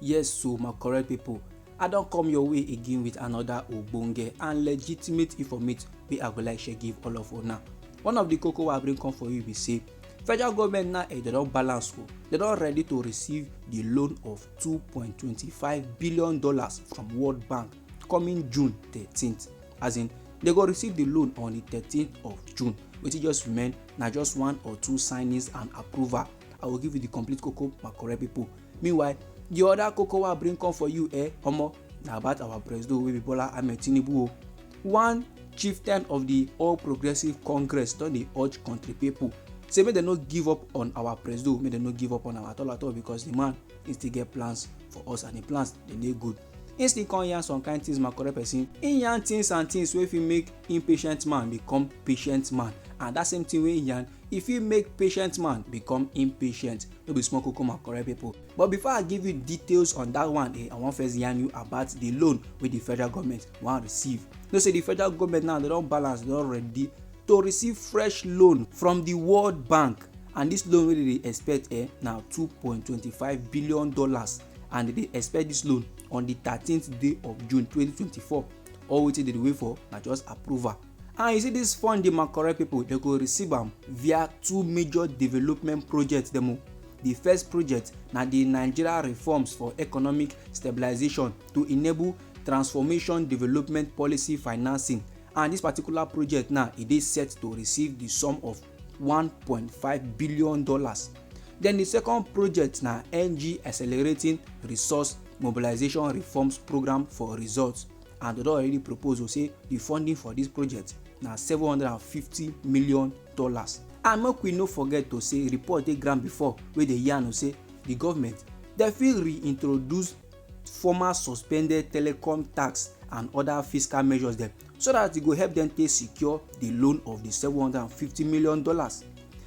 Yes so my correct people, I don come your way again with another ogbonge and legitimate informate wey I go like share give all of una. One of the koko wey I bring come for you be say federal government now eh, dem don balance o, dem don ready to receive the loan of two point twenty five billion dollars from World Bank coming June thirteen as in dem go receive the loan on the thirteen of June wetin just remain na just one or two signings and approval i go give you the complete koko my correct people meanwhile the other koko wey i bring come for you eh omo na about our president wey be bola ahmed tinubu o one chieftain of the all progressives congress don dey urge country people say make dem no give up on our president make dem no give up on am at all at all because the man he still get plans for us and the plans dey dey good He still come yarn some kind things my correct person. He yarn things and things wey fit make impatient man become patient man and that same thing wey he yarn e fit make patient man become impatient no be small koko my correct people but before i give you details on that one eh, i wan first yarn you about the loan wey the federal government wan receive you know say the federal government now they don balance they don ready to receive fresh loan from the world bank and this loan wey they dey expect eh, na two point two five billion dollars and dem dey expect dis loan on di thirteenth day of june twenty twenty four all wetin dem dey wait for na just approval and you see dis fund dey makorel pipo dem go receive am via two major development projects dem o di first project na di nigeria reforms for economic stabilisation to enable transformation development policy financing and dis particular project now e dey set to receive di sum of 1.5 billion dollars then the second project na ng accelerating resource mobilization reforms program for results and they don already propose o say the funding for this project na 750 million dollars and make we no forget to say report dey ground before wey dey yarn o say the government dem fit reintroduce former suspended telecom tax and other fiscal measures dem so that e go help dem take secure the loan of the seven hundred and fifty million dollars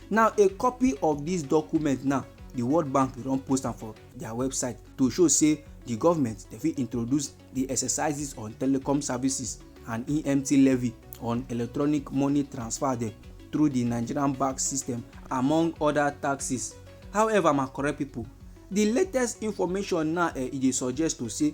now a copy of this document now the world bank don post am for their website to show say the government dey fit introduce the exercises on telecom services and emt levy on electronic money transfer dem through the nigerian bank system among other taxes however my correct people the latest information now eh, e dey suggest to say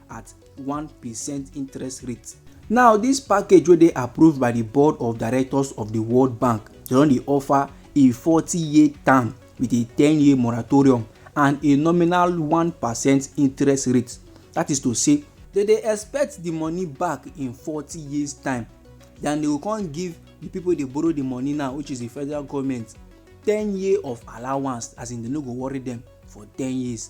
at 1% interest rate. Now, this package wey dey approved by the board of directors of the World Bank, they don dey offer a 40-year term with a 10-year moratorium and a nominal 1% interest rate. That is to say, they dey expect the money back in 40 years time. Then they go come give the people dey borrow the money now, which is the federal government, 10 year of allowance, as in they no go worry them for 10 years.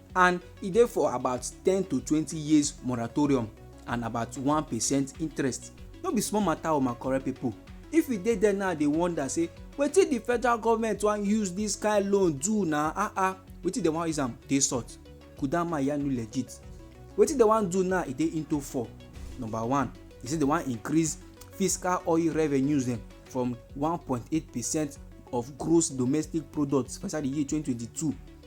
and e dey for about ten to twenty years moratorium and about one percent interest no be small matter o my correct people if you dey there now dey wonder say wetin the federal government wan use this kind loan do na ah ah wetin dem wan use am dey sort kudama yanu legit wetin dem wan do now e dey into four number one e say dem wan increase fiscal oil revenues dem from one point eight percent of gross domestic product for inside the year twenty twenty two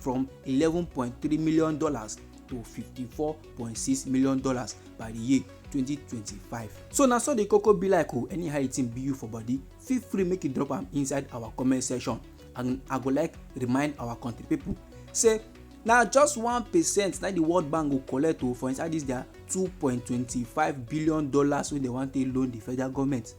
from eleven point three million dollars to fifty four point six million dollars by the year twenty twenty five. so na so the koko be like o oh, anyhow e thing be you for body feel free make you drop am inside our comment section and i go like remind our country people say na just one percent na the world bank go collect o oh, for inside this their two point twenty five billion dollars wey dem wan take loan the federal government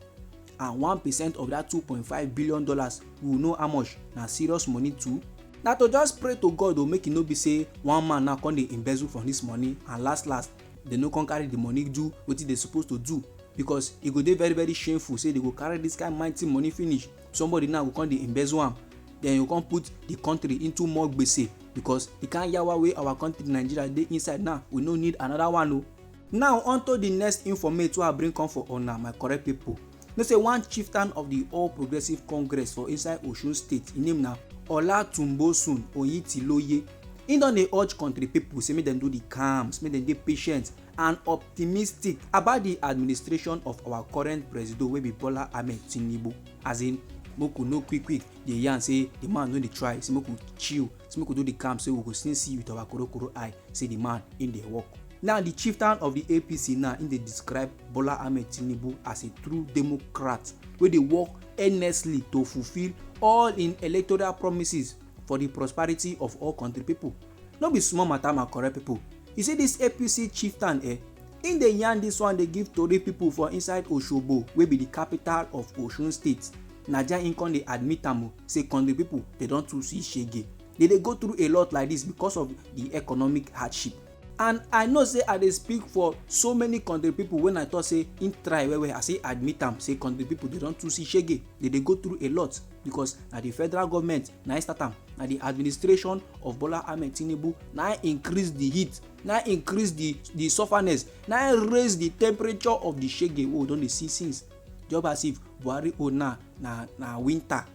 and one percent of that two point five billion dollars we know how much na serious money too na to just pray to god o make e no be say one man now come dey embezzle from this money and last last they no come carry the money do wetin they suppose to do because e go dey very very shameful say they go carry this kind mighty money finish somebody now go come dey embezzle am then you come put the country into more gbese because the kind yawa wey our country nigeria dey inside now we no need another one o. Oh. Now unto the next informate wey I bring come for una my correct people. Know say one chieftain of the All Progressive Congress for inside Osun State, im name na Olatunbosun Oyitiloye. Im don dey urge country people say make dem do the calms, make dem dey patient and optimistic about the administration of our current presido wey be Bola Ahmed Tinubu. As in, make we no quick quick dey yarn say the man no dey try, say make we chill, say make we do the calm, say we go still see with our korokoro eye say the man im dey work. Now the chieftain of the APC now im dey describe Bola Ahmed Tinubu as a true democrat wey dey work earnestly to fulfil all im electoral promises for the prosperity of all country people. No be small matter my correct people. You see this APC chieftain eh, im dey yarn this one dey give tori people for inside Osogbo wey be the capital of Osun state. Na there im come dey admit am o say country people dey don too see shege. Dey dey go through a lot like this because of the economic hardship. and i know say i dey speak for so many country people when i talk say im try well well i say admit am say country people dey don too see shege dey dey go through a lot because na the federal government na im start am na the administration of bola ahmed tinubu na im increase the heat na im increase the the sufferness na im raise the temperature of the shege wey we don dey see since just as if buhari own now na na winter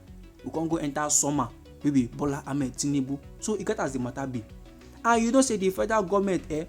we come go enter summer wey be bola ahmed tinubu so e get as the matter be and you know say di federal goment eh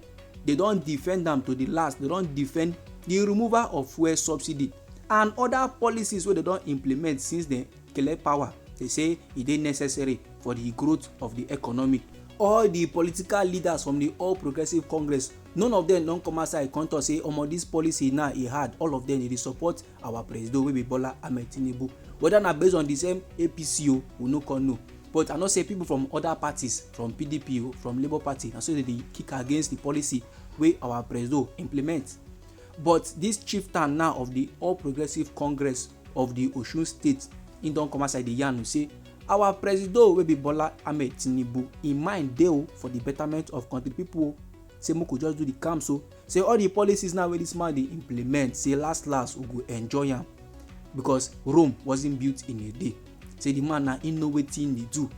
dey don defend am to di last dey don defend di removal of fuel subsidy and oda policies wey dey don implement since dem collect power dey say e dey necessary for di growth of di economy all di political leaders from di all progressives congress none of dem don come outside come tok say omo dis policy now e hard all of dem dey support our presido wey be bola ahmed tinubu whether na based on the same apc o we no come know but i know say people from other parties from pdp o from labour party na so they dey kick against the policy wey our presido implement but this chieftain now of the all progressives congress of the osun state he don come outside dey yarn say our presido wey be bola ahmed tinubu im mind dey o for the betterment of country people o say make we just do the calm so say all the policies now wey this man dey implement say last last we go enjoy am because rome wasn't built in a day say the man na him know wetin dey do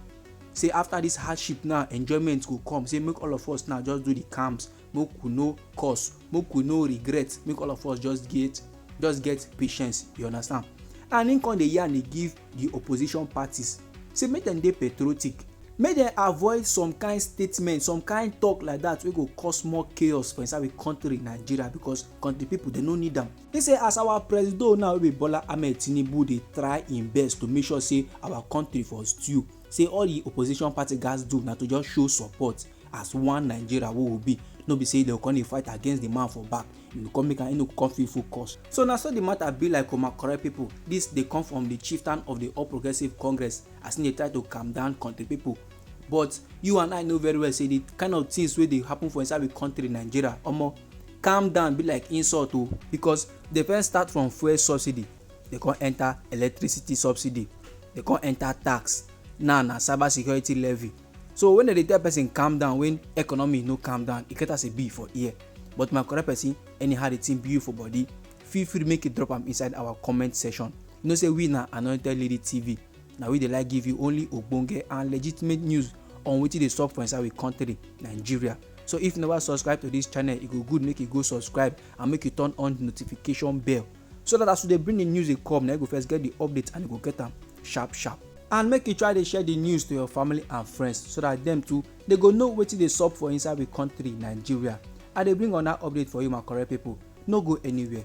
say after this hardship now enjoyment go come say make all of us now just do the camps make we no cause make we no regret make all of us just get just get patience you understand and him come dey yarn dey give di opposition parties say make dem dey patriotic make dem avoid some kind statement some kind talk like that wey go cause more chaos for inside we country nigeria because country people dem no need am he say as our presido now wey be bola ahmed tinubu dey try im best to make sure say our country for stew say all the opposition party gatz do na to just show support as one nigeria wey we be no be say dem come dey fight against the man for back e go come make am e no go come feel full cost. So na so the matter be like Oma correct people. This dey come from the chieftain of the All Progressives Congress as he dey try to calm down country people. But you and I know very well say the kind of things wey dey happen for inside the country Nigeria, omo, calm down be like insult o because dey first start from fuel subsidy, dey come enter electricity subsidy, dey come enter tax, now na cyber security levy. So when dem dey tell person calm down when economy no calm down, e get as e be for ear. But my correct person, anyhow the thing be you for body, feel free make you drop am inside our comment section. You know say we na Anointed Lady TV, na we dey like give you only ogbonge and legitimate news on wetin dey sup for inside we country, Nigeria. So if you never subscribe to this channel, e go good make you go subscribe and make you turn on the notification bell so that as we dey bring the news dey come na you go first get the update and you go get am sharp sharp and make you try dey share the news to your family and friends so that dem too dey go know wetin dey sup for inside we country nigeria i dey bring una update for you my correct people no go anywhere